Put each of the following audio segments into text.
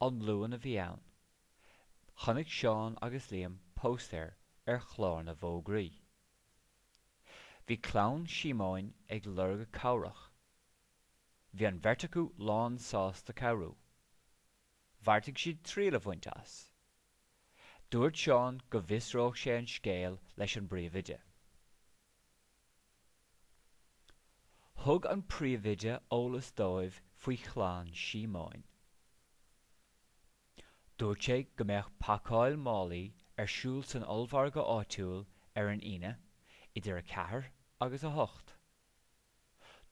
An Luan a bhí ann. Chonaic Seán agus Liam póstaer ar chlár na bhfógraí. Bhí Clann Síomóin ag lorg cabhrach. Bhí an bheirt acu lánsásta cabhrú. Bheartaigh siad triail a bhaint as. Dúirt Seán go bhfiosródh sé an scéal leis an bpríomhoide. Thug an príomhoide eolas dóibh faoi Chlann Síomóin. Dúirt sé go mbeadh pacáil málaí ar siúl san ollmhargadh áitiúil ar an Aoine idir a 4 agus a 8.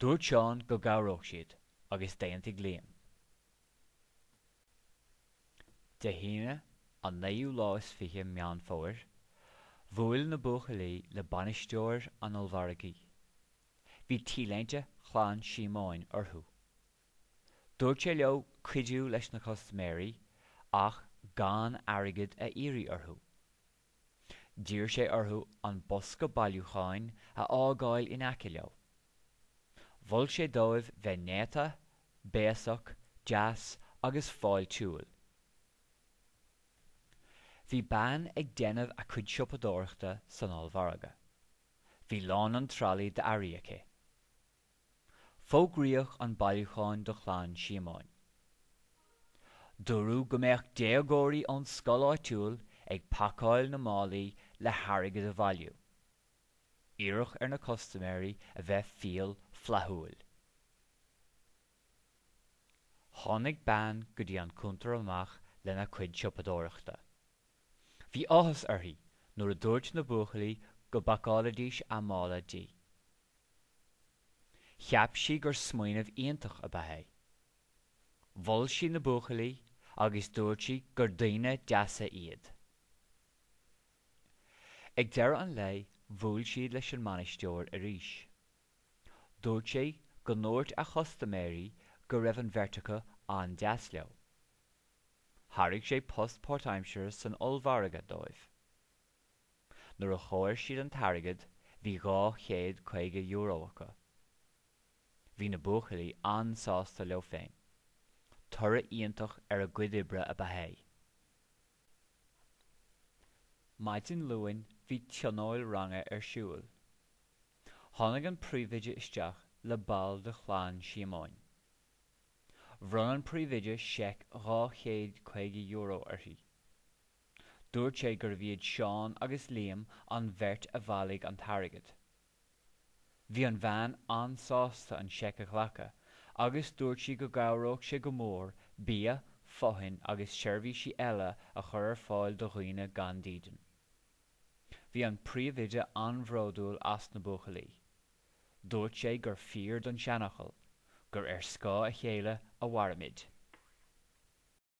Dúirt Seán go gcabhródh siad agus d'aontaigh Liam. Dé hAoine, an naoú lá is fiche Meán Fómhair, bhuail na buachaillí le bainisteoir an ollmhargaidh. Bhí T-léinte Chlann Síomóin orthu. Dúirt sé leo cuidiú leis na custaiméirí ach gan airgead a iarraidh orthu. D'iarr sé orthu an bosca bailiúcháin a fhágáil in aice leo. Mhol sé dóibh bheith néata, béasach, deas agus fáiltiúil. Bhí bean ag déanamh a cuid siopadóireachta san ollmhargadh. Bhí lán an tralaí d'earraí aici. Fógraíodh an bailiúchán do Chlann Síomóin. Dúradh go mbeadh déagóirí ón scoil áitiúil ag pacáil na málaí le hairgead a bhailiú. Iarradh ar na custaiméirí a bheith fial flaithiúil. Tháinig bean go dtí an cuntar amach lena cuid siopadóireachta. Bhí áthas uirthi nuair a dúirt na buachaillí go bpacálfaidís a mála di. Cheap sí gur smaoineamh iontach ab ea é. Mhol sí na buachaillí agus dúirt sí gur daoine deasa iad. Ag deireadh an lae bhuail siad leis an mbainisteoir arís. Dúirt sé go ndúirt a chustaiméirí go raibh an bheirt acu an-deas leo. Thairg sé post páirtaimseartha san ollmhargadh dóibh. Nuair a chomhair siad an t-airgead bhí €250 acu. Bhí na buachaillí an-sásta leo féin. Toradh iontach ar a gcuid oibre ab ea é. Maidin Luain bhí tionól ranga ar siúl. Tháinig an príomhoide isteach le ball de Chlann Síomóin. Bhronn an príomhoide seic €250 uirthi. Dúirt sé gurbh iad Seán agus Liam an bheirt a bhailigh an t-airgead. Bhí an bhean an-sásta an seic a ghlacadh agus dúirt sí go gcabhródh sé go mór bia, fothain agus seirbhísí eile a chur ar fáil do dhaoine gan dídean. Bhí an príomhoide an-bhródúil as na buachaillí. Dúirt sé gur fíor don tseanfhocal, gur ar scáth a chéile a mhairimid.